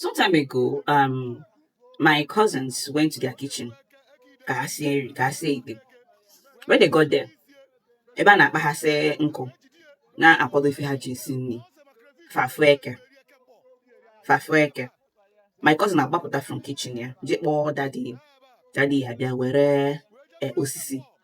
some time ago um my cousins went to their kitchen ka ha sie nri ka ha sie ite when they got there ebe ha na-akpaghasị nkụ na-akwado ife ha ji esi nri fa fụ eke fa fụ eke my cousin agbapụta from kitchen ya je kpọọ daddy ya daddy ya bịa were eh, osisi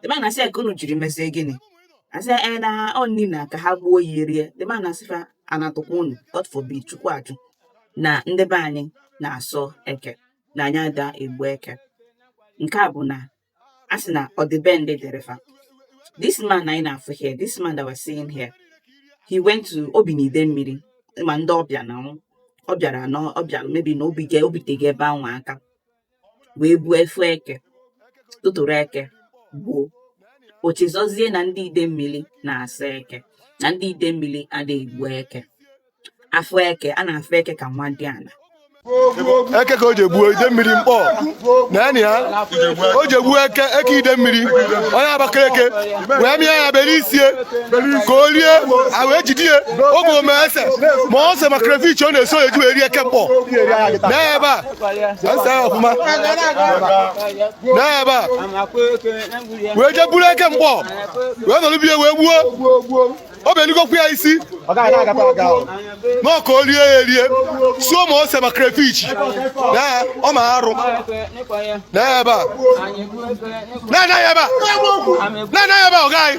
the man asị ya ka unu jiri mezie gịnị asị ya na ọ nri na ka ha gbuo ya rie the man asị fa anatụkwa unu god forbid chukwu ajụ na ndị be anyị na-asọ eke na anyị ada egbu eke nke a bụ na a sị na ọ dị be ndị dịrị fa this man anyị na-afụ here this man that we're seeing here he went to o bi na idemili ma ndị ọbịa na ọ bịara na ọ bịara maybe na o bigo o bitego ebe ahụ aka wee buo ọ fụ eke tụtụrụ eke gbuo o chezọzie na ndị idemili na-asọ eke na ndị idemili adịghị egbu eke afụ eke a na-afụ eke ka nwadiala eke ka o ji gbuo idemili mkpọ naanị ya o ji gbuo eke eke idemili onye abakaliki wee mịa ya bere isi ya ka o rie a wee jide ya oge ome ese ma ose ma crayfish ọ na-esu eji wee rie eke mkpọ n'ebe a n'ebe a wee jee buru eke mkpọ wee nọrọ be ya wee gbuo o beligokwu ya isi na ọ ka o lie ya erie suo ma ose ma crayfish o mee arụ n'ebe a na-anaghị ebe a na-anaghị ebe a ọ gaghị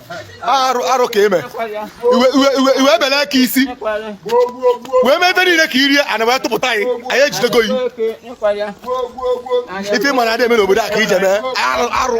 arụ arụ ka i me i wee bele eke isi wee mee ebe niile ka i rie ana wee tụpụta anyị anyị ejidego yi ife ị ma na adị eme n'obodo a ka i je mee arụ arụ